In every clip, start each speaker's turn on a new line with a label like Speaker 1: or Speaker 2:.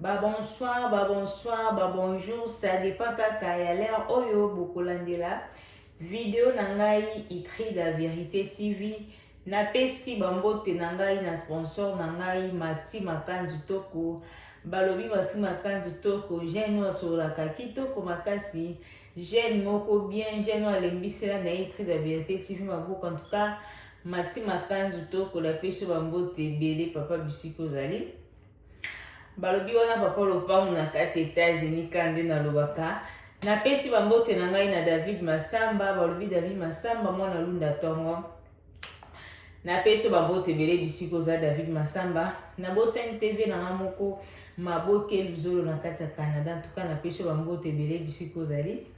Speaker 1: Ba bonsoir, ba bonsoir, ba bonjour, ça dépend kaka ya l'heure oyo bokolandela video na ngai Itrida Verite TV. Napesi bambote na ngai na sponsor na ngai Mati Makanzu Toko. Balobi Mati Makanzu Toko, jeune oyo asololaka kitoko makasi, jeune moko bien, jeune oyo alembisela na ye Itrida Verite TV maboko. En tout cas, Mati Makanzu tokola peso ba mbote ebele papa bisika ozali balobi wana papa lopango na kati Etats-Unis ka nde nalobaka napesi bambote na ngai na David Masamba balobi David Masamba mwana lunda tongo napesi bambote ebele bisika oza David Masamba na bosani TV na nga moko maboke luzolo na kati ya Canada ntuka napesi bambote ebele bisika ozali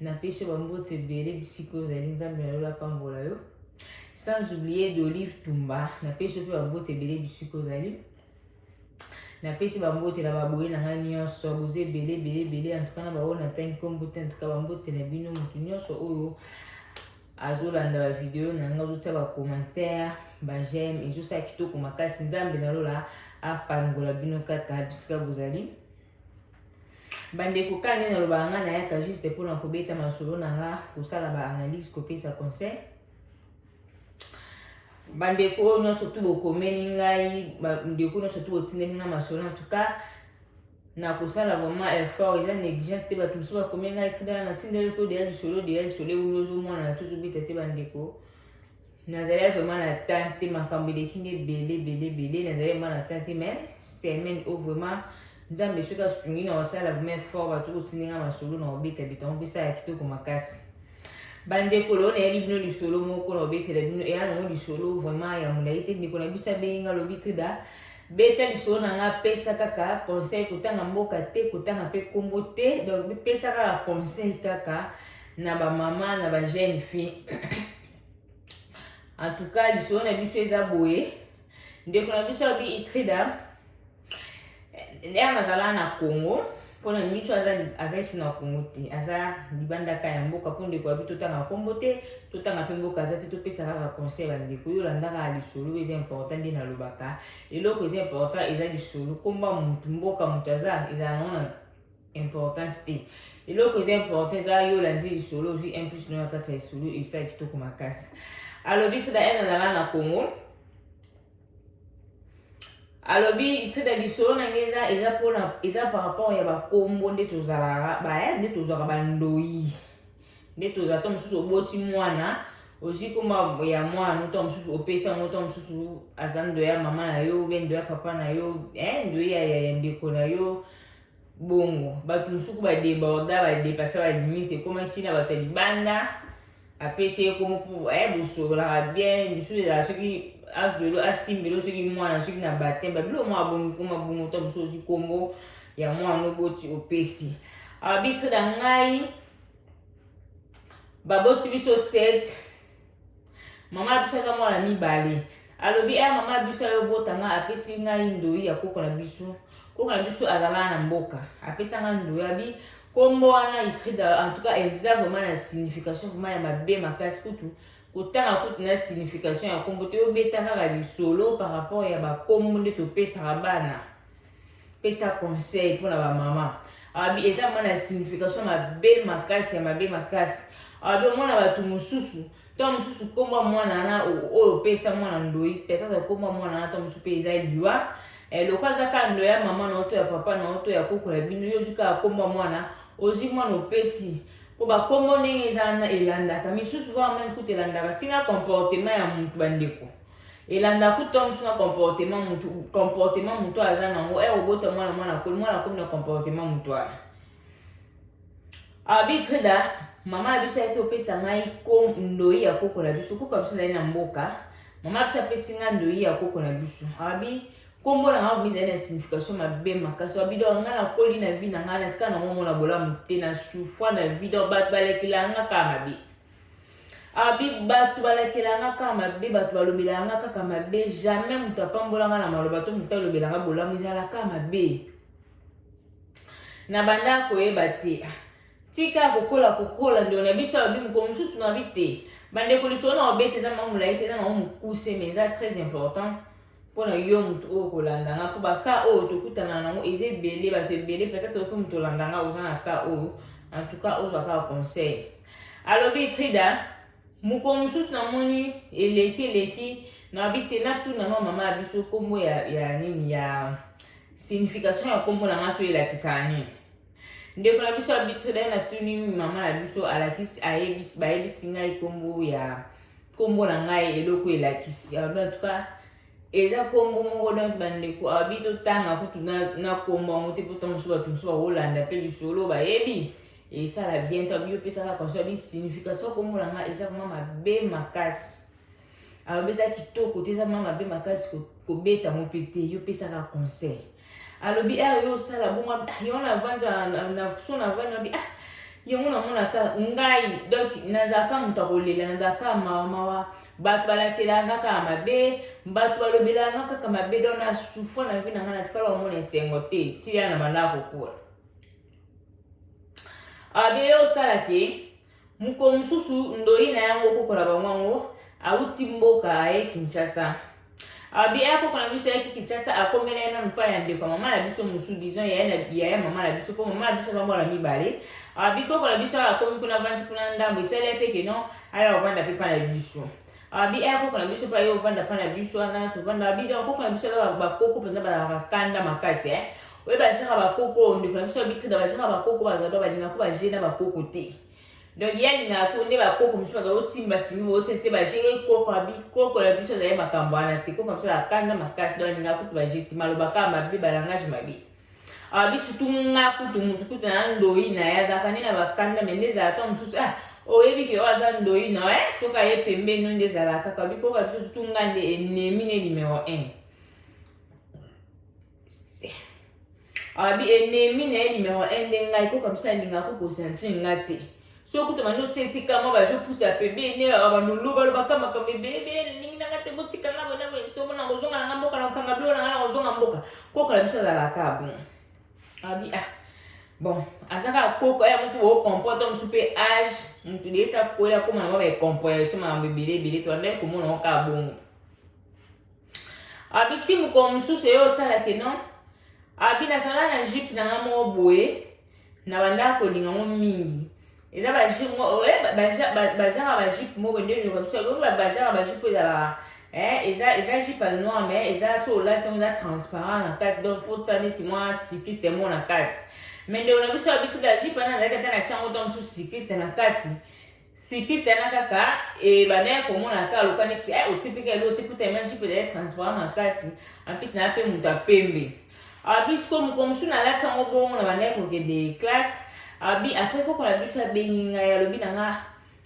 Speaker 1: napesi yo bambote ebele bisika ozali nzambe na lola apambola yo sans oublier d'olive tumba napesi yo mpe bambote ebele bisika ozali napesi bambote na baboye na ngai nyonso boza ebele ebele ebele antuka na baoyo natangi nkombo te antuka bambote na bino moto nyonso oyo azolanda bavideo na ngai azotya bacommentaire bajeme ezosala kitoko makasi nzambe na lola apambola bino kaka bisika bozali bandeko kaka ndenge nalobaka ngai nayaka juste mpona kobeta masolo na nga kosala baanalyse kopesa conseil bandeko oyo nyonso tu bokomeli ngai bandeko nyonso tu botindeli ngai masolo en tout cas nakosala vraiment effort eza négligence te bato mosusu bakomi ngai tindala natindeli ko deya lisolo deya lisolo euli ozomona na tozobeta te bandeko nazali vraiment na temps te makambo eleki nde ebele ebele ebele nazali vraiment na temps te mais semaine oyo vraiment nzambe soki asungi na kosala vraiment fort bato kotindinga masolo na kobeta bitango mpe sala kitoko makasi bandeko lelo nayeli bino lisolo moko na kobetela bino eya nango lisolo vraiment ya molai te ndeko na biso abengi nga lobi trida beta lisolo na nga apesa kaka conseil kotanga mboka te kotanga mpe nkombo te donc pesa kaka conseil kaka na bamama na bajeune fille en tout cas lisolo na biso eza boye ndeko na biso abi itrida ere nazala na congo mpona mitu aza esu na congo te aza libandaka ya mboka mpo ndeko abi totanga nkombo te totanga mpe mboka aza te topesa kaka conseil ya ndeko yo olandaka lisolo eza important nde nalobaka eloko eza important eza lisolo nkomba motu mboka motu aza ezala nango na importance te eloko eza important eza yo olandi lisolo ozwi un plus no na kati ya lisolo esala kitoko makasi alobi tida ene azala na congo alobi tida lisolo na ngai eza eza mpona eza par rapport ya bakombo nde tozalaka baye nde tozwaka bandoi nde tozala to mosusu oboti mwana ozwi komba ya mwana to mosusu opesi yango to mosusu aza ndo ya mama na yo be ndo ya papa na yo eh, ndo ya ndeko na yo Bongo, bato mosuku ba deborda, ba depassa ba limite, ekomaki ti na bato ya libanda, apesi ye komo mpo eh, bosololaka bien, misusu ezala soki azwelo asimbelo soki mwana soki na bateme babilo mwa abongi koma bongo to mosusu ozwi nkombo ya mwana oboti opesi abitre na ngai baboti biso 7 Mama na biso aza mwana mibale. Alobi eh mama na biso ayo bota nga apesi ngai ndoyi ya koko na biso. Koko na biso azala na mboka. Apesa nga ndoyi abi kombo wana itrida en tout cas eza vraiment na signification vraiment ya mabe makasi kutu kotanga kutu na signification ya kombo te obeta kaka lisolo par rapport ya bakombo nde topesaka bana pesa conseil mpona bamama abi eza mama na signification mabe makasi ya mabe makasi abi omona bato mosusu ntango mosusu nkombo ya mwana wana oyo opesa mwana ndoi petata nkombo ya mwana wana ntango mosusu mpe eza liwa eh, lokola aza kaka ndoi ya mama na yo to ya papa na yo to ya koko ya bino yo ozwi kaka nkombo ya mwana ozwi mwana opesi mpo bakombo ndenge eza wana elandaka misusu vaa meme kutu elandaka ntina comportement ya moto bandeko elandaka kutu ntango mosusu na comportement mutu comportement mutu oyo aza nango ere eh, obota mwana mwana akoli mwana akomi na comportement mutu wana arbitre da mama ya biso ayaki opesa ngai ko ndoi ya koko na biso koko ya biso ezali na mboka mama ya biso apesi ngai ndoi ya koko na biso abi nkombo na ngai ezali na signification mabe makasi abi donc ngai nakoli na vie na ngai natika nango mona bolamu te na souffra na vie donc bato balekela ngai kaka mabe abi ah, bato balakela nga kaka mabe bato balobela nga kaka mabe jamais moto apambola nga na maloba to moto alobela nga bolamu ezala kaka mabe na banda koyeba te ah, tika kokola kokola ndeko na biso alobi mokolo mosusu na bi te bandeko lisolo na obete eza mwa molai te eza na mwa mokuse mais eza très important mpo na yo moto oyo kolanda nga mpo baka oyo tokutana nango eza ebele bato ebele peut-être ope moto olanda nga oza na ka oyo en tout cas ozwa kaka conseil alobi trida mokolo mosusu namoni eleki eleki nabi te natuna no mama ya biso nkombo ya, ya nini ya signification ya nkombo na nga so elakisaka nini ndeko na biso abitre dai natuni mama na biso alakisi ayebisi bayebisi ngai nkombo ya nkombo na ngai eloko elakisi alobi ah, antuka eza nkombo moko donc bandeko abi ah, totanga kutu na nkombo yango te mpo ntango mosusu bato mosusu bakolanda mpe lisolo bayebi esala bien to abi opesaka consoi bi signification nkombo na ngai eza vraimen mabe makasi alobi eza kitoko te eza mwa mabe makasi kobeta yango mpe te yo pesaka conseil alobi awa yo osala bongo ah, yango navandi na so navandi abi ah yango namonaka ngai donc nazalaka moto ya kolela nazalaka mawamawa bato balakelanga kaka mabe bato balobelanga kaka mabe donc na souffre na vi na ngai natikala komona esengo te tiya na bandako kokola abi yo osalaki Mokolo mosusu ndoi na yango koko na bango yango auti mboka aye Kinshasa. Abi aya koko na biso ayaki Kinshasa akomela ye nanu mpa ya ndeko ya mama na biso mosusu disons yaya na yaya mama na biso mpo mama na biso aza mwana mibale. Abi koko na biso akomi kuna avandi kuna ndambo esali ye mpe ke non aya kovanda mpe mpa na biso. abi eya koko na biso mpe aye ovanda mpa na biso wana tovanda abi donc koko na biso aza bakoko mpenza bazalaka kanda makasi e oye bajaka bakoko ndeko na biso abitrida bajaka bakoko bazalado balingako baje na bakoko te donc ye alingaka ko nde bakoko mosusu baza osimba simbi bosense baje ye koko abi koko na biso azali makambo wana te koko na biso azalaka kanda makasi donc alingaka kutu baje te malobaka mabe balangage mabe alobi surtout nga kutu mutu kutu na ndoi na ye azalaka nde na bakanda me nde ezala ntango mosusu ah oyebi ke oyo aza ndoi na ye soki aye pembeni no nde ezala kaka alobi koyoka biso surtout nga nde enemi ne numero 1 alobi enemi na ye numero 1 nde ngai koka biso alingaka kokosanti nga te soki kutu bandi osesi kama bazopusa pebene balulu balobaka makambo ebelebele nalingi nanga te botika nga boye na boye somo na kozonga nanga mboka na kokanga bilo nanga na kozonga mboka koko na biso azalaka bon abi ah bon aza kaka koko ya moko bocomporte mosusu mpe age motu deyesa koya koma na mwa bacomprehension makambo ebele ebele to andaki komona ngo kaka bongo abiti mokolo mosusu eye osala ke non abi nazala na jipe na nga moko boye na bandaka kolinga ngo mingi eza bajipe bajaka bajipe moko nde ndoka biso yango bajaka bajipe ezalaka eza eza jipe ya noir mais eza so olati yango eza transparent na kati donc fo ta neti mwa sikiste moko na kati mais ndeko na biso abitula jipe wana azalaki ata na tiango ntango mosusu sikiste na kati Sikiste yana kaka ebanda ya komona kaka loka neti eh, otipika elo te puta ima jipe ezali transparent makasi ampisi na mpe moto ya pembe abi sikoyo mokolo mosusu nalati yango bongo na bandaki kokende classe abi apres koko na biso abengi ngai alobi na nga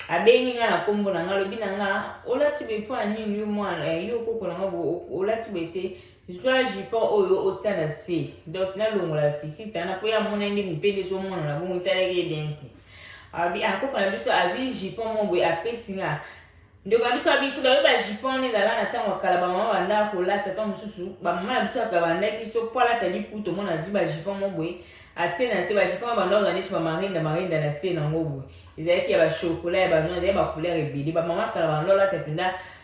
Speaker 1: abengi ngai na nkombo na ngai alobi na nga olati boye mpo ya nini yo mwana eh, yo koko na nga olati boye te zwa jupon oyo otia na se donc nalongola sikiste wana mpo ye amona nde mopende ezomonana bongo esalaki ye bien te abi akoko ah, na biso azwi jupon mo boye apesi nga ndeko na biso abiki bayo bajupon wana ezala na ntango ya kala bamama bandaka kolata ntango mosusu bamama na biso yaka bandaki so mpo alata liputo mona azwi bajupon mo boye atie na se bajupon ya bandako na neti bamarinda marinda na se nango boye ezalaki ya bashokola ya bano ezalaki bacouleur ebele bamama kala bando alata mpenza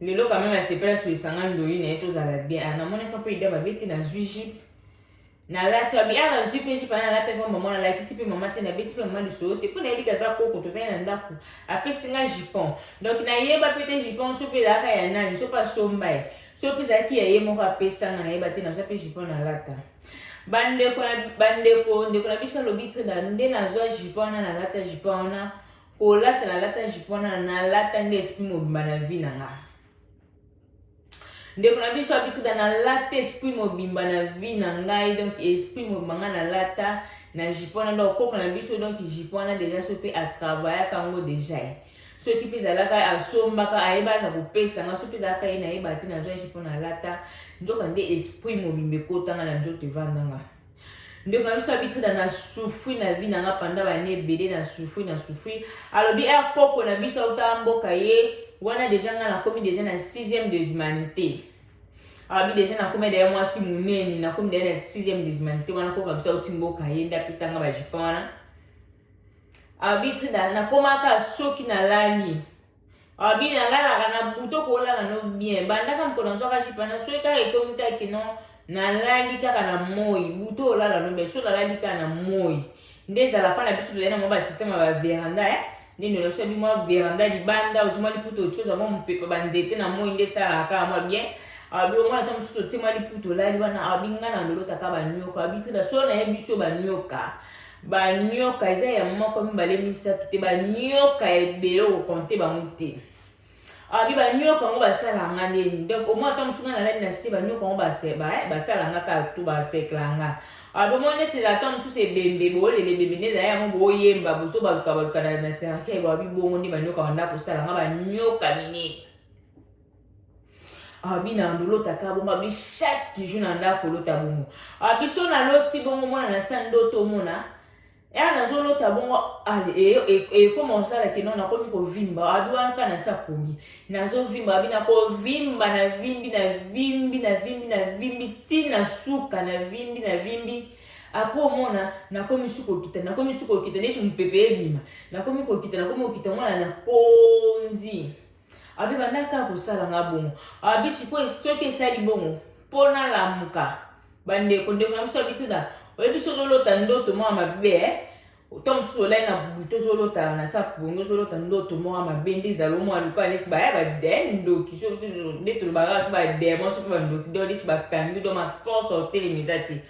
Speaker 1: lelo quand même asepela sur lisanga ndoyi na ye tozala bien ah, namonaki mpe ida mabe te nazwi jipe nalati abi ah nazwi mpe jipe ana alataki wa mama nalakisi mpe mama te nabeti mpe mama lisolo te mpo nayebi kaza koko tozali na ndako apesi nga jipon donc nayeba mpe te jipon so mpe ezalaka ya nani so mpe asomba ye so mpe ezalaki ya ye moko apesanga nayeba te nazwa mpe jipon nalata bandeko bandeko ndeko na biso alobi nde nazwa jipon wana nalata jipon wana kolata na lata jipo wana nalata nde esprit mobimba na vie na nga ndeko na biso abituda nalata esprit mobimba na vie na ngai donc esprit mobimba ngai nalata na jipo wana donc koko na biso donc jipo wana deja so mpe atravayaka yango deja ye soki mpe ezalaka asombaka ayebaka kopesa nga soki mpe ezalaka ye nayeba te nazwa jipo nalata nzoka nde esprit mobimba ekotanga na nzoto evandanga ndeko na biso abitida na souffri na vie na nga panda bane ebele na souffri na souffri alobi er eh, koko na biso auta mboka ye wana deja nga nakomi deja na sixième de humanité alobi deja nakomi daya mwasi monene nakomi daya na sixième de humanité wana koko na biso auti mboka ye nde apesanga bajipon wana alobi trida nakomaka soki nalali Abi na lalaka na buto kolala no bien bandaka mokolo nazwaka jipa na soki kaka ekomi kaka kino nalali kaka na moi buto olala no bien so nalali kaka na moi nde ezala mpa na biso tozali na mwa basysteme ya baveranda eh? nde ndola biso yabi mwa veranda libanda ozwi mwa liputa ocoza mwa mopepe banzete na moi nde esalaka kaka mwa bien abi omwana ntango mosusu otie mwa liputa olali wana abi ngai na lolotaka banyoka abi tena so nayebi biso banyoka banioka eza ya moko mibale misato te banioka ebele okokonte bango te abi ah, banioka yango basala nga ndeni donc omoi ata mosunga na lani na se banioka yango eh, basala nga kaka tu basekla nga abi ah, omoi neti ata mosusu ebembe boolele ebembe nde ezali yango boyemba bozo baluka baluka na serafia babi bongo nde banioka banda kosala nga banioka minene abi na lolotaka bongo abi chaque jour na ndako olota bongo abi so naloti bongo mwana na sa ndoto omona ya nazolota bongo ekoma osala ke non nakomi kovimba abi wana kaka nasi aponi nazovimba abi nakovimba navimbi navimbi navimbi navimbi ti na suka navimbi navimbi apres omona nakomi su kokita nakomi su kokita neti mopepe ebima nakomi kokita nakomi kokita mwana na konzi Abi banda kaka kosala nga bongo. Abi sikoyo soki esali bongo mpo nalamuka bandeko ndeko na biso abi te da oyebi soki olota ndoto mwa mabe eh? to mosusu olai na butu ozolota na sa pongi ozolota ndoto mwa mabe nde ezala omwa lokola neti baya bade ndoki nde tolobaka so bademon soki bandoki do neti bakangi do maforce otelema eza te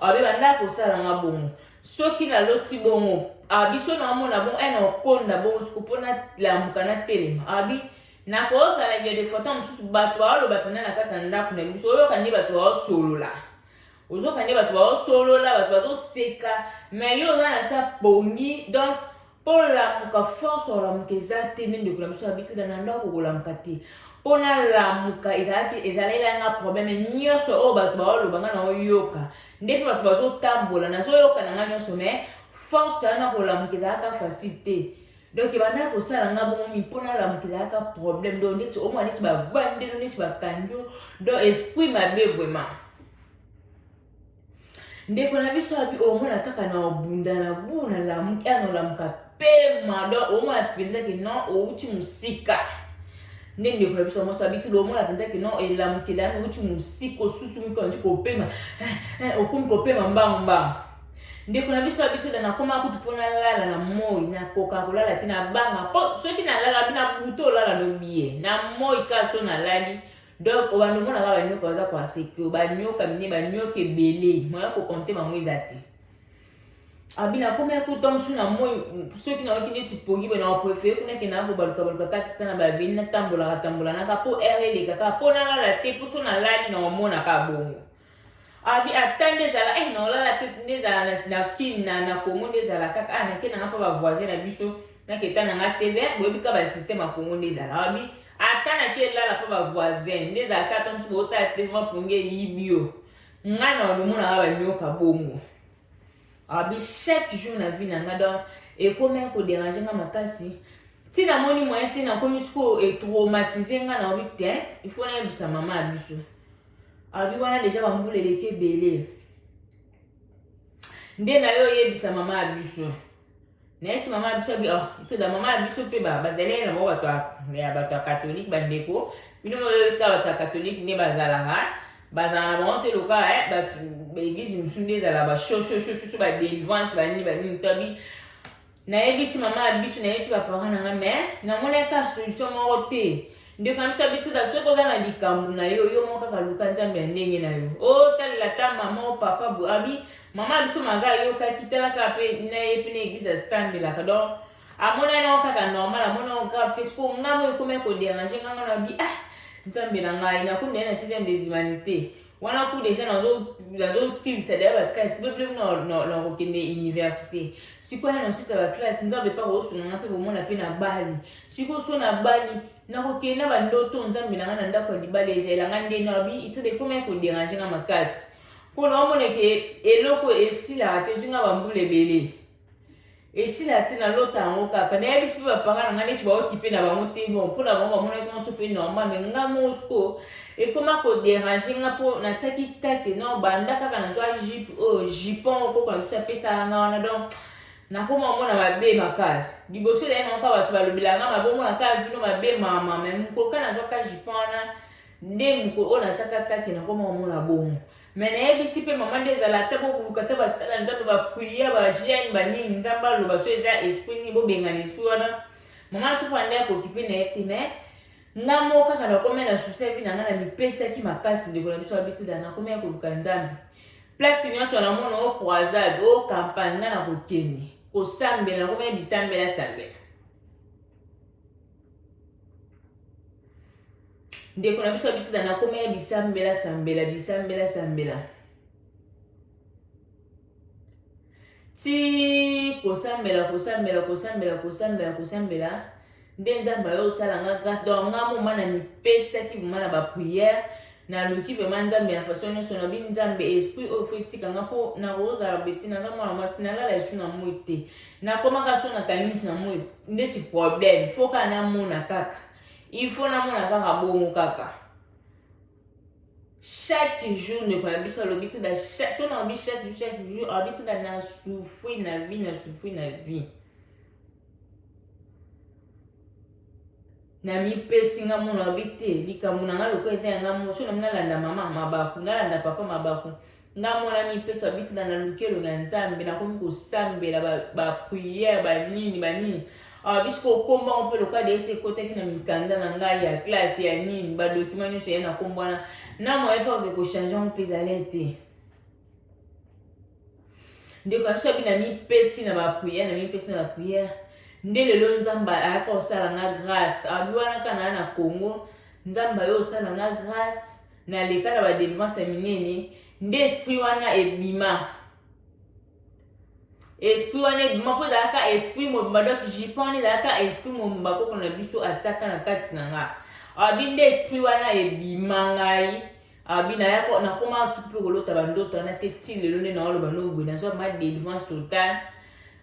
Speaker 1: abe bandaka kosala nga bongo soki naloti bongo awa biso naomona bongo e naokonda bongo suku mpo nalamuka natelema abi nakozala ndio defota mosusu bato baoloba mpenza na kati ya ndako na biso oyoka nde bato baosolola ozoka nde bato baosolola bato bazoseka mai yo oza na sa pongi donk mpo nalamuka force ya kolamuka eza te nde ndeko na biso yabi te na ndako kolamuka te mpo nalamuka ezalaki ezalela nga probleme nyonso oyo bato baoloba nga naoyoka nde mpe bato bazotambola nazoyoka na nga nyonso me force ya na kolamuka ezalaka facile te donc ebandaki kosala nga bongo mingi mpo nalamuka ezalaka probleme donc ndeti omwa neti bavandelo neti bakangi donc esprit mabe vraiment ndeko na biso abi omona kaka na obunda na bu na lamuki ana olamuka pema donc omona mpenza ke non outi mosika nde ndeko na biso mwasi abituli omona mpenza ke non elamukela yani outi mosika osusu miki ondi kopema eh, eh, okomi kopema mbangu mbangu ndeko na biso abituli nakoma kutu mpo nalala na moi nakoka kolala ti nabanga mpo soki nalala bi na butu olala lobi ye na moi kaka so nalali na donc obanda omona kaka banyoka baza koasepio banyoka mine banyoka ebele moya kokonte bango eza te abina ah, akomi akuta mosusu na moi soki nayoki neti pongi boye nakoprefere kuna ke nakobalukabaluka kati ta na baveni natambolaka tambolanaka mpo ere elekaka mpo nalala te mpo so nalali na omonaka bongo abi ata nde ezala eh naolala te nde ezala na kin na na congo nde ezala kaka ah nake nanga mpa bavoisin na biso naketa nanga te ve boyebi kaka basystème ya congo nde ezala abi ata nake elala mpa bavoisin nde ezala kaka mosu bootala te vrema ponge eyibi yo ngai na olomonaka banyoka bongo abi chaque jour na vie na ngai donc ekomaki koderange ngai makasi ti namoni moyen te nakomi sikoyo etraumatise ngai naobi te il faut nayebisa mama ya biso alobi wana deja bambula eleki ebele nde na yo oyebisa mama ya biso nayesi mama ya biso ah, toda mama ya biso mpe bazali na bango bato ya bato ya katolike bandeko bino moyebika bato ya katolike nde bazalaka bazala na bango te lokola eh, bato baeglise mosusu nde ezala bashoshoshosho badelivrance banini banini tobi Nayebisi mama ya bisu, nayebisi ba parents na nga mais namonaki kaka solution moko te. Ndeko na biso ya Bituda, soki oza na likambo na yo, yo moko kaka luka Nzambe ya ndenge na yo. Otalela ta mama o papa bo abi mama ya biso maka ayokaki tala kaka mpe na ye mpe na eglise asitambelaka donc amonaki nango kaka normal amoni yango grave te sikoyo ngai moyo ekomi koderange ngai ngai na bi ah nzambe na ngai nakomi na ye na sixième des humanités wana ku deja nazosilisa deja baklasse blblm nakokende université sikoyo ya nasisa baklasse nzambe mpe akosuna nga mpe komona mpe na bali sikoyo so na bali nakokende na bandoto nzambe na nga na ndako ya libala ezalela nga ndenge abi itode ekomi ya koderange nga makasi mpo naomoneke eloko esilaka te ezwi nga bambula ebele esila te na lota yango kaka nayebisi mpe bapanga na ngai neti baokipe na bango te bon mpo na bango bamonaki nyonso mpe normal me nga mosko ekoma koderange nga mpo natiaki kate no banda kaka nazwa jip oyo oh, jipon okoko na biso apesaka nga wana donc nakoma omona mabe makasi liboso ezali nango kaka bato balobelaka nga mabe omona kaka vino mabe mama me mokoka nazwaka jipon wana nde mokolo oyo natiaka kake nakoma omona bongo me nayebisi mpe mama nde ezala ata bokoluka ata basala nzambe bapria bajeune banini nzambe aloba so eza esprit nini bobengana esprit wana mama asuku ande akokipe na ye te me nga moko kaka nakomi na susi ya vi na nga na mipesaki makasi ndeko na biso abitida nakomi ya koluka nzambe place nyonso namona o croisade o campagne nga na kokende kosambela nakomi ya bisambela sambela ndeko na biso abitina na koma ya bisambela sambela bisambela sambela ti kosambela kosambela kosambela kosambela kosambela nde nzambe ayo osala nga grâce donc nga moma na mipesaki vraimen na baprière naluki vraimen nzambe ya façon nyonso nabi nzambe esprit oyo fo etika nga mpo nakozala bete naza mwana mwasi nalala esu na moi te nakomaka so nakangi miso na moi ndeti problème fo kaka namona kaka il faut namona kaka bongo kaka chaque jour ndeko na biso alobi ti so nalobi chaque jour chaque jour alobi ti na nasufri na vie nasufri na vie namipesi nga mona alobi te likambo na nga lokola eza ya nga mo so nami nalanda mama mabaku nalanda papa mabaku nga mwana mipeso abitela na lukelo na nzambe nakomi kosambela bapriere ba banini banini awa bisi kokomba yango mpe lokola deyesi ekotaki na mikanda na ngai ya classe ya nini badokima nyonso ya na nkombo wana na moye mpe oke kochange yango mpe ezali te ndeko na biso abi na mipesi na bapriere na mipesi na bapriere nde lelo nzambe ayaka kosala nga grâce abi wana kana na congo nzambe ayo osala nga grâce na leka na ba delivrance ya minene nde esprit wana ebima esprit wana ebima mpo ezalaka esprit mobimba donc jipe wana ezalaka esprit mobimba koko na biso atiaka na kati na nga abi nde esprit wana ebima ngai abi naya nakoma suki mpe kolota bandoto wana te ti lelo nde naoloba noboye nazwa ma délivrance totale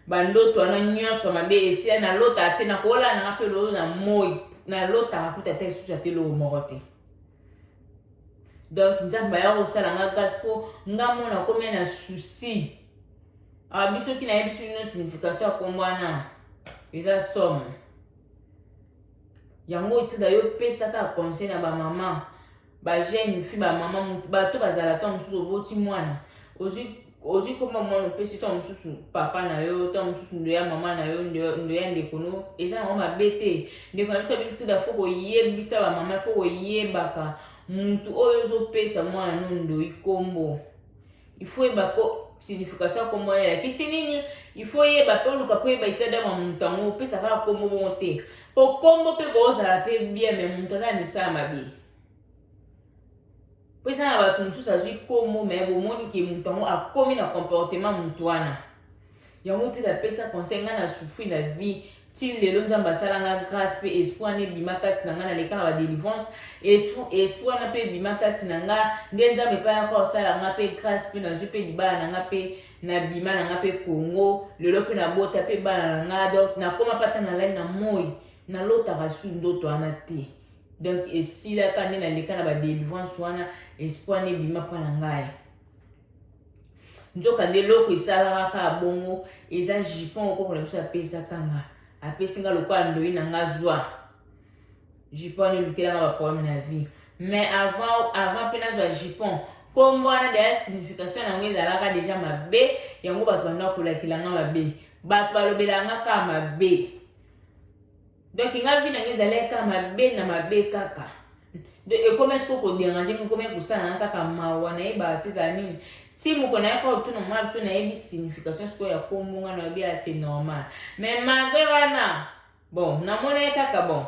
Speaker 1: bandoto wana nyonso mabe esia nalota te nakoolala nanga mpe lolo na moi nalotaka kuta ata esusu ata eloko moko te donc nzambe aya kosala nga grâce mpo nga mona komia na souci awa ah, biso ki nayebisi bino signification ya kombo wana eza somme yango otada yo pesaka conseil na bamama bajeune fi bamama bato bazala ntango mosusu oboti mwana ozwi ozwi komba mwana opesi ntango mosusu papa na yo ntango mosusu ndo ya mama na yo ndo ya ndeko no eza yango mabe te ndeko na biso abiki tuda fo koyebisa bamama fo koyebaka motu oyo ozopesa mwana no ndoi nkombo ifo yeba ko signification ya nkombo wana elakisi nini ifo yeba mpe oluka mpo yeba etadama motu yango opesa kaka nkombo bongo te mpo nkombo mpe koozala mpe bien me motu aza na misala mabe mpo eza na bato mosusu azwi nkombo me bomoni ke moto yango akomi na comportement moto wana yango te napesa conseil ngai na souffri na vie ti lelo nzambe asala nga grâce mpe esprit wana ebima kati na ngai naleka na badelivrance esprit wana mpe ebima kati na ngai nde nzambe mpe ayaka osala nga mpe grâce mpe nazwi mpe libala na ngai mpe nabima na ngai mpe congo lelo mpe nabota mpe bana na ngai donc nakoma mpe ata nalali na moi nalotaka su ndoto wana te donc esilaka nde naleka na badelivrance wana espoir nde ebima mpa na ngai nzoka nde eloko esalaka kaka bongo eza jupon okoko na biso apesaka nga apesi nga lokola ndoi na nga zwa jupon nde elukelaka baproblème na vie mais avant avant mpe nazwa jupon nkombo wana deya signification yango ezalaka deja mabe yango bato banda kolakela nga mabe bato balobelaka nga kaka mabe donc nga vie na nga ezalaki kaka mabe na mabe kaka donc ekomaki siko koderange nga ekomaki kosala na kaka mawa nayebaka te ezala nini ti moko nayaka otuna mwa biso nayebi signification sikoyo ya kombo nga nayebi ya c'est normal mais malgre wana bon namonaki kaka bon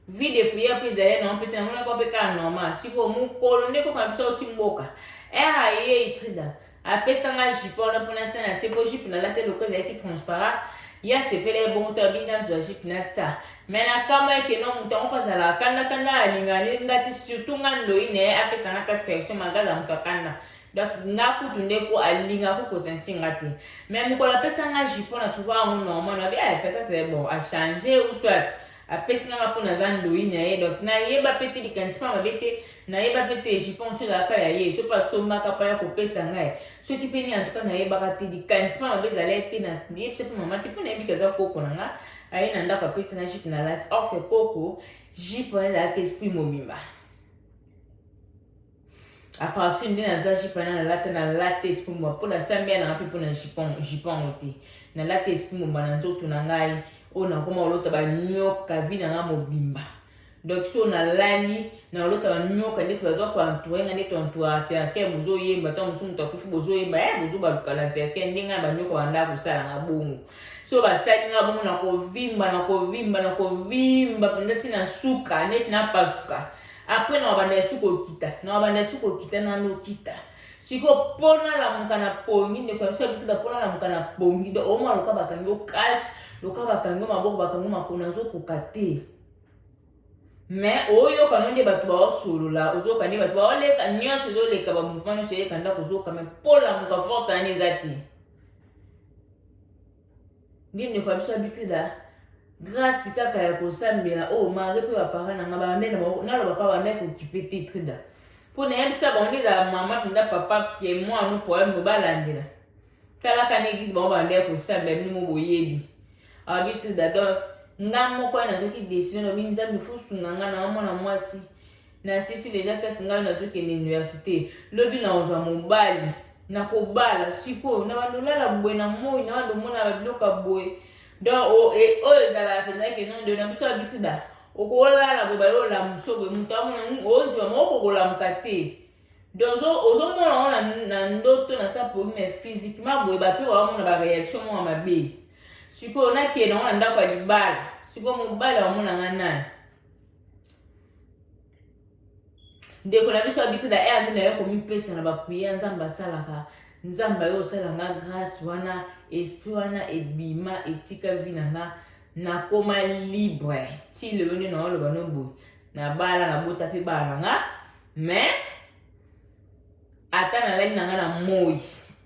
Speaker 1: vie de prière mpe ezali nango mpe te namonaki mpe kaka normal sikoyo mokolo nde koko na biso auti mboka ere ayei trida apesa nga jipe wana mpo natya na se mpo jipe nalata eloko ezalaki transparent ye asepela ye bongo to abingi nazwa jipe natya me nakama eke no moto yango mpo azalaka kandakanda alingani nga ti surtout nga ndoi na ye apesa nga ta affection malgre aza moto akanda donc nga kutu nde ko alingaki kosanti nga te me mokolo apesa nga jipe na trouva yango normal nabi ay peut-être bon achange ou soit apesi nga nga mpo naza ndoyi na ye donc nayeba mpe te likanisi mpa mabe te nayeba mpe te je pense ezalaka ya ye soki asombaka mpa ya kopesa ngai soki mpe nini antuka nayebaka te likanisi mpa mabe ezala ye te nayebisa mpe mama te mpo nayebika eza koko na nga aye na ndako apesi nga jipe na lati orke koko jipe wana ezalaka esprit mobimba A partir nde naza jipe na nalata nalata esprit mobimba mpo nasala mia nanga mpe mpo na jipe yango te nalata esprit mobimba na nzoto na ngai oyo nakoma olota banyoka vi na ngai mobimba donc so nalali na olota banyoka ndeti baza koentoure ngai ndeti entoura cercle bozoyemba ntango mosusu moto akufi bozoyemba e eh, bozobaluka na cercle nde ngai na banyoka banda kosala ngai bongo so basali ngai bongo nakovimba nakovimba nakovimba mpenza ntina suka ndeti napasuka na apres na wabanda esu kokita na wabanda esu kokita nano kita siko mpo nalamuka na pongi ndeko ya biso ya bitinda mpo nalamuka na pongi do oma loka bakangi okalch loka bakangi maboko bakangi makona azokoka te me oyoka no nde bato baosolola ozoyoka nde bato baoleka nyonso ezoleka bamouvement nyonso eleka ndako ozoyoka me mpo lamuka force yani eza te Ngi ndeko ya biso abitida grâce kaka ya kosambela oyo oh, mare mpe bapara na nga bambe naloba mpa bambe kokipe te trida mpo nayebisa bango nde ezala mama mpenza papa ke mwana poème bobalandela talaka na eglise bango bambe ya kosambela bino mo boyebi abi trida donc nga moko nazwaki décision lobi nzambe fosunga nga na mwana mwasi Na sisi deja place ngai nazo kende universite. Lobi na ozwa mobali. Na kobala sikoyo na bando lala boye na moi na bando mona ba biloko boye. Donc o e oyo ezala penza ke non de na biso habitude da. Okolala boye ba yo la musobe mutu amona onzwa moko kolamuka te. Donc ozo mona ona na ndoto na sa pour mais physiquement boye ba pe wa mona ba réaction mwa mabe. Sikoyo na kende na ndako ya libala. Sikoyo mobali wa mona nga nani? ndeko na biso abiti na erde na yo komipesa na bapriere nzambe asalaka nzambe ayo osala nga grâce wana esprit wana ebima etika vi na nga nakoma libre ti lelo nde naoloba no boye nabala nabota mpe bana na nga mais ata nalali na nga na moi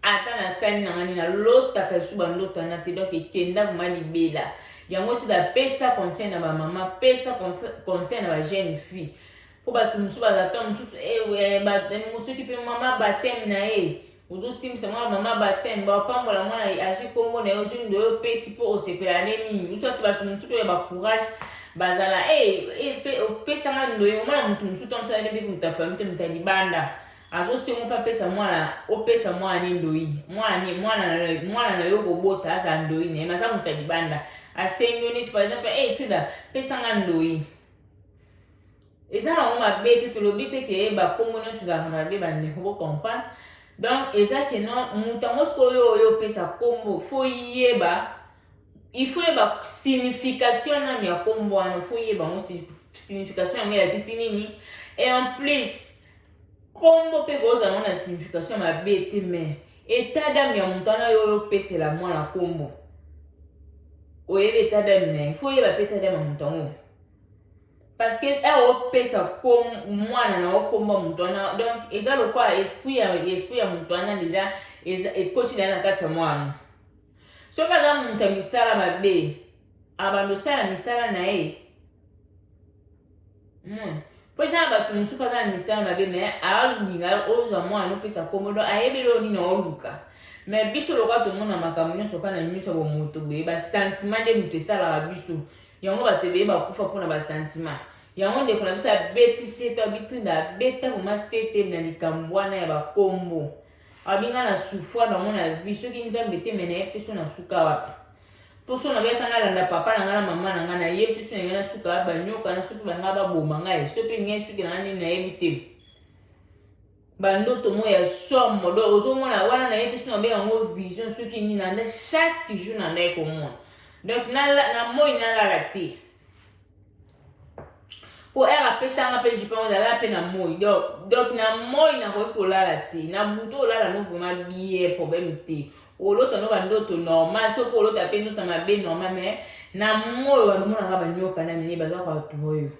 Speaker 1: ata nasali na ngani nalotaka esu bandoto wana te donk ekenda vraimen libela yango ti bapesa conseil na bamama pesa conseil na bajeune fille mpo bato mosusu bazata mosusu eh, eh, eh, mosuki mpe mama bateme na ye ozosimbisa mwana mama bateme bapambola mwana azwi nkombo na ye ozwi ndo yo opesi mpo osepela ne mingi usu ati bato mosusu mpe ya bacourage bazala opesa nga ndoyi omona motu mosusu to mosala nde moto ya famille te moto ya libanda azosengo mpe apesa mwana opesa mwana ne ndoyi mwana mwana mwana na yo kobota aza ndoyi na ye maza moto ya libanda asengi yo neti par exemple hey, eh, tida pesa nga ndoyi eza nango mabe te tolobi te ke bakombo nyonso ezalaka mabe bandeko bocomprendre donc eza ke non moto yango soki oyo oyo opesa kombo fo yeba Il faut oyeba signification nanu ya kombo wana, faut oyeba yango signification yango elakisi nini. Et en plus, kombo mpe kozala yango na signification mabe te, mais etat d'âme ya moto wana yo opesela mwana kombo, oyebi etat d'âme na ye, faut oyeba mpe etat d'âme ya moto yango parce que awa eh, opesa mwana na okombo ya moto wana, donc eza lokola esprit ya esprit ya moto wana deja ekoti na ye na kati ya mwana Soki aza moto ya misala mabe, abanda osala misala na ye mona mpo eza na bato mosusu aza na misala mabe me alinga yo ozwa mwana opesa nkombo do ayebi eloko nini aoluka me biso lokola tomona makambo nyonso kaka na miso ya bomoto boye basantima nde moto esalaka biso yango bato ebeye bakufa mpo na basantima yango ndeko na biso abeti sete abitinda abeta vraimen sete na likambo wana ya bakombo Abi nga na souffra bango na vie soki nzambe te me nayebi te so na suka wapi mpo so nabeyaka nalanda papa na nga na mama na nga nayebi te so na ngai na suka wapi banyoka na soki banga baboma ngai so mpe ngai soki na nga nini nayebi te bandoto mo ya somo do ozomona wana nayebi te so nabe yango vision soki nini nanda chaque jour nandai komona donc na moi nalala te po ere apesanga mpe jipa yango nalala mpe na moi donc donc na moi nakoki kolala te na butu olala no vraiment bie problème te olota no bandoto normal soki olota mpe ndota mabe normal mais na moi wana omonaka banyoka na mine baza koatua yo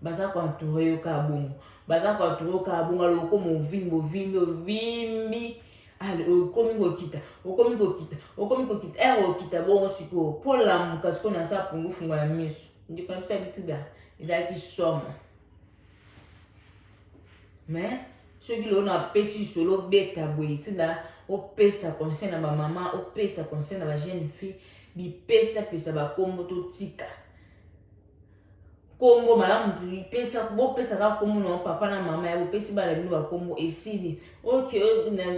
Speaker 1: baza koentoure yo kaka bongo baza koentoure yo kaka bongo aloko movimbi ovimbi ovimbi ale okomi kokita okomi kokita okomi kokita ere okita bongo sikoyo mpo lamuka sikoyo na sa pungufungo ya miso ndeko na biso ya bituda ezalaki somo mais soki lelo napesi lisolo obeta boye ntina opesa conseil na bamama opesa conseil na bajeune fille bipesapesa bakombo totika kombo malamu pesa bopesa kaka kombo na papa na mama ya bopesi bana bino bakombo esili oke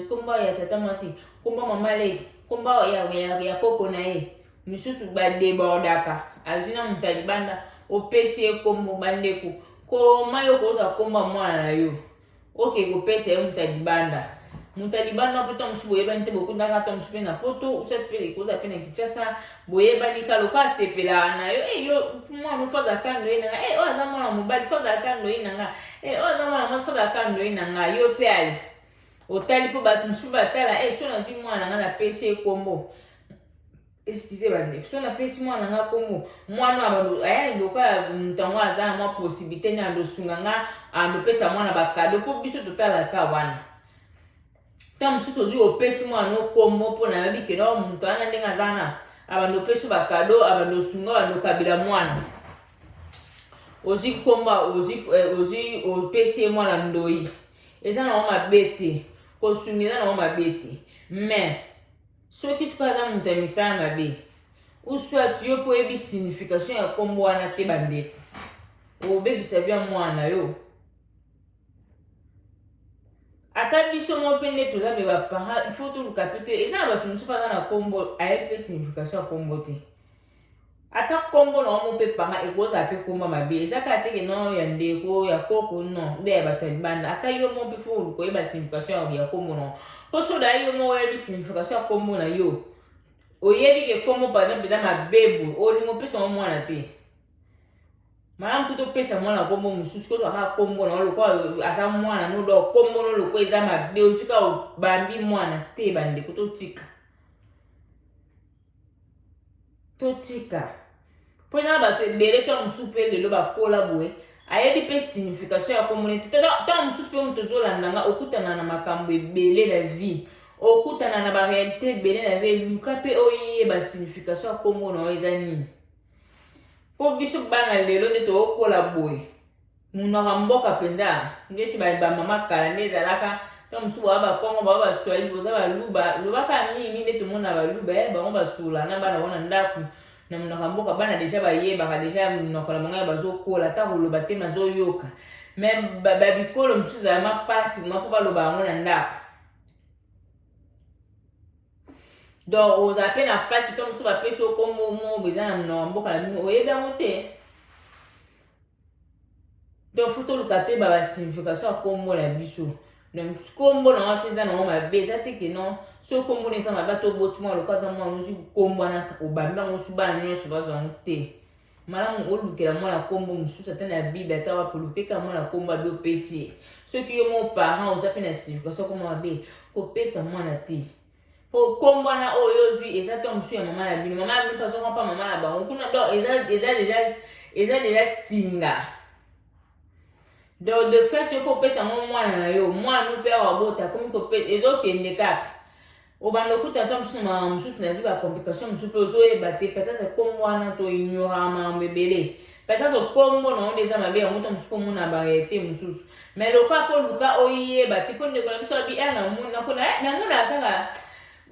Speaker 1: kombo ya tata mwasi kombo mama leki kombo ya, ya, ya koko na ye misusu badebordaka azwi na moto ya libanda opesi ye kombo bandeko koma yo kozwa kombo ya mwana na yo oke kopesa ye moto ya libanda moto ya libanda mpo ntango mosusu boyebani te bokundaka ntango mosusu mpe na poto usati mpe ekoza mpe na kinshasa boyebani ka loka asepelaka na yo e yo mwana ofo azalaka ndoyi na nga e oyo aza mwana mobali fo azalaka ndoyi na nga e oyo aza mwana mwasi fo azalaka ndoyi na nga yo mpe ali otali mpo bato mosusu batala e so nazwi mwana na nga napesi ye nkombo excuse bandeko so napesi mwana na nga nkombo mwana eh, lokola moto yango aza na mwa possibilité nde andosunga nga andopesa mwana bakado mpo biso totalaka wana ntango mosusu ozwi opesi mwana no nkombo mpo nayebi kena oh, moto wana ndenge aza na abando opesi bakado abando osunga abando okabila mwana ozwi nkombo ozwi eh, opesi ye mwana ndoi eza nango mabe te kosunga eza nango mabe te mais Soki sikoyo aza moto ya misala mabe ou soit yo mpo oyebi signification ya nkombo wana te bandeko obebisa bya mwana na yo ata biso moko mpe nde toza me baparent il faut toluka mpe te eza na bato mosusu aza na nkombo ayebi mpe signification ya nkombo te ata kombo na yango mpe panga ekozala mpe komba mabe eza kaka te ke non ya ndeko ya koko non nde ya bato ya libanda ata yo moko mpe fo koyeba signification ya kombo na yo mpo soda yo moko oyebi signification ya kombo na yo oyebi ke kombo par exemple eza mabe boye olingi opesa yango mwana te malamu kutu opesa mwana kombo mosusu kozwa kaka kombo na yo lokola aza mwana nodo kombo no lokola eza mabe ozwi kaka obambi mwana te bandeko totika totika mpo eza na bato ebele ntango mosusu mpe lelo bakola boye ayebi mpe signification ya komona ete ntango mosusu mpe moto ozolanda nga okutana na makambo ebele na vie okutana na barealité ebele na vie luka mpe oyeba signification ya kombo na yo eza nini mpo biso bana lelo nde tokokola boye Munoko ya mboka mpenza ndeti bamama kala nde ezalaka ntango mosusu bawa bakongo bawa baswahili boza baluba lobaka mingi nde tomona baluba eh, bango basula na bana bango na ndako na monoko ya mboka bana deja bayebaka deja monoko na bango ya bazokola ata koloba te mazoyoka me babikolo mosusu ezalama mpasi mpo baloba yango na ndako donc ozala mpe na mpasi to mosusu bapesi yo nkombo mo eza na mboka na bino oyebi yango te donc fo toluka toyeba basignification ya nkombo na biso donc nkombo na yango te eza nango mabe eza te ke non soki nkombo na eza mabe to oboti mwana lokola aza mwana ozwi kokombwanaka obambi yango osu bana nyonso bazwa yango te malamu olukela mwana nkombo mosusu ata na bible ata wapi olukeka mwana nkombo abi opesi ye soki yo mo parent oza mpe na signification koma mabe kopesa mwana te mpo nkombo wana oyo ozwi eza to mosusu ya mama na bino mama na bino mpazonga mpa mama na bango kuna do eza deja singa donc de fait soki opesa yango mwana na yo mwana no mpe awa bota akomi ezokende kaka obanda okuta ata mosusu na makambo mosusu na vie bacomplication mosusu mpe ozoyeba te peut-être nkombo wana toignoraka makambo ebele peut-être nkombo na yango nde eza mabe yango ta mosusu mpo omona barealité mosusu mais lokola mpo oluka oyeba te mpo ndeko na biso abi eh, namonaka kaka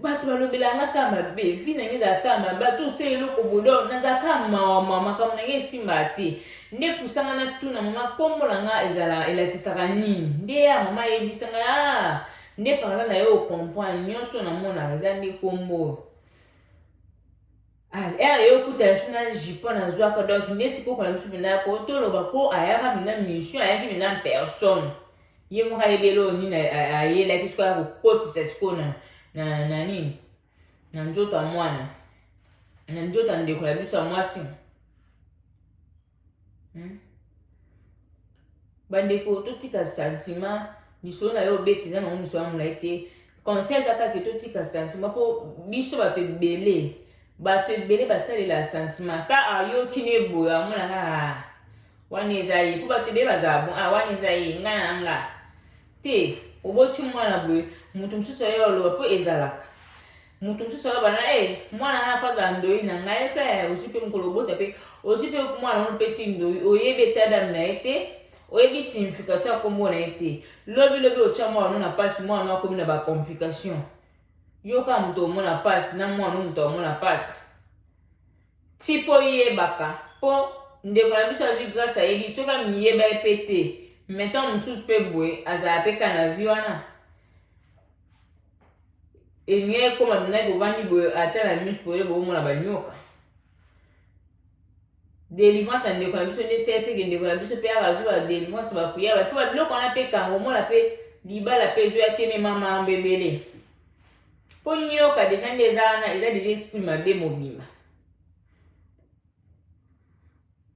Speaker 1: bato balobelaka nga kaka mabe vi na ngai ezalaka kaka mabe ata ose eloko bodo nazalaka kaka mawama makambo na ngai esimbaka te nde pusanga natuna mama nkombo na ngai ezala elakisaka nini nde ya mama ayebisanga ah, nde parla na yo ocomprendre nyonso na monaka eza nde nkombo oyo ah, ere yo okutana biso na jipon nazwaka donk neti kokola biso mpenza po toloba mpo ayaka mpenza mission ayaki mpenza personne ye moko ayebeli oyo nini ayelaki sikoyo ya kokotisa sikoyo na, na, na nini na nzoto ya mwana na nzoto ya ndeko ya biso ya mwasi hmm? bandeko totika sentiment misolo na yo obeta eza nango misolo ya molai te conseil eza kaka totika sentiment mpo biso bato ebele bato ebele basalela sentiment ta ayoki na eboyo amonaka ah, wana eza ye mpo bato ebele bazala bon ah, wana eza ye ngai na nga te oboti mwana boye moto mosusu aye oloba mpo ezalaka moto mosusu aloba na e mwana na afazala ndoi na ngai mpe ozwi mpe mokolo obota mpe ozwi mpe mwana ono mpesi ndoi oyebi etadame na ye te oyebi signification ya nkombo na ye te lobilobi otya mwana ono na mpasi mwana ono akomi na bacomplication yoka moto omona mpasi na mwana ono moto amona mpasi ti mpo oyebaka mpo ndeko na biso azwi grâce ayebi soki amiyeba ye mpe te metan mosusu mpe boye azala mpe ka na vi wana eni ekoma mpenza bovandi boye ata na miso boye boomona banyoka delivrance ya ndeko na biso nde esali mpe ke ndeko na biso mpe aka azwa delivrance bapriere mpe babiloko wana mpe kango omona mpe libala mpe ezwi atemema mambo ebele mpo nyoka deja nde eza wana eza deja esprit mabe mobimba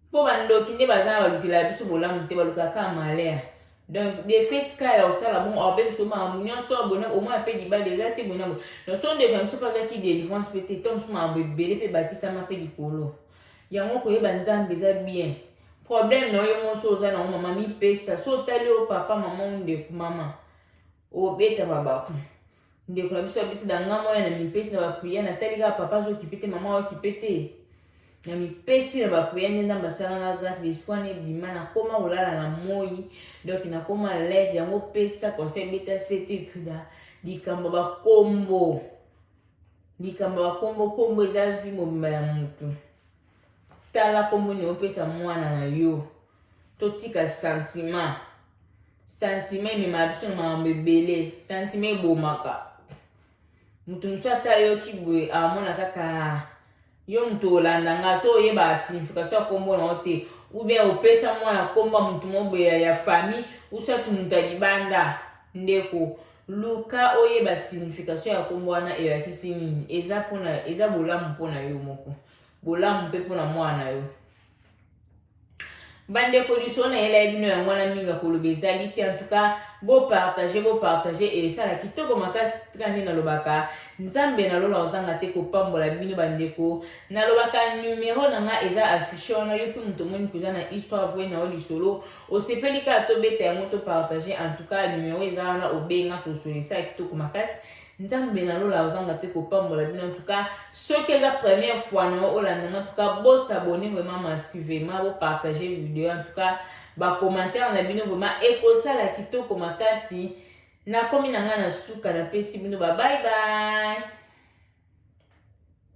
Speaker 1: mpo bandoki nde baza na balukela biso bolamu te balukaka malheur donc de fait ka ya osala bongo aobe biso makambo nyonso abona omona mpe libala eza te bona bo nyonso ndeko ya biso mpe azwaki delivrance mpe te to mosusu makambo ebele mpe ebakisama mpe likolo yango koyeba nzambe eza bien problème na yo monso oza na yango mama mipesa so otali yo papa mama ndeko mama obeta mabaku Ndeko na biso ya biti na nga moya na mipesi na ba prière na tali kaka papa azo kipe te maman azo kipe te. Na mipesi na ba prière nde ndamba sala nga grâce bespwa ne bima na koma kolala na moyi donc na koma l'aise yango pesa conseil beta sete trida likambo ba kombo likambo ya kombo kombo eza vie mobimba ya motu tala kombo nini opesa mwana na yo totika sentiment sentiment ememaka biso na makambo ebele sentiment ebomaka moto mosusu ata yoki boye amona kaka yo moto olanda nga so oyebaka signification ya kombo na yo te ou bien opesa mwana kombo ya moto moko boye ya famille usati moto ya libanda ndeko Luka oyeba signification ya kombo wana elakisi nini. Eza pona eza bolamu pona yo moko. Bolamu pe pona mwana na yo. bandeko lisolo na yela ye bino yango wana mingi akoloba ezali te antuka bopartage bopartage esala kitoko makasi tika nde nalobaka nzambe na lola ozanga te kopambola bino bandeko nalobaka numero na nga eza affiche wana yo mpe moto omoni koza na histoire voi na yo lisolo osepeli kaka tobeta yango to partage en tout cas numero eza wana obenga tosolisa ya kitoko makasi nzambe na lola ozanga te kopambola bino en tout cas soki eza première fois na yo olanda na en tout cas bosabone vraiment massivement bopartage video en tout cas bacommentaire na bino vraiment ekosala kitoko makasi nakomi na ngai na suka napesi bino babaybaye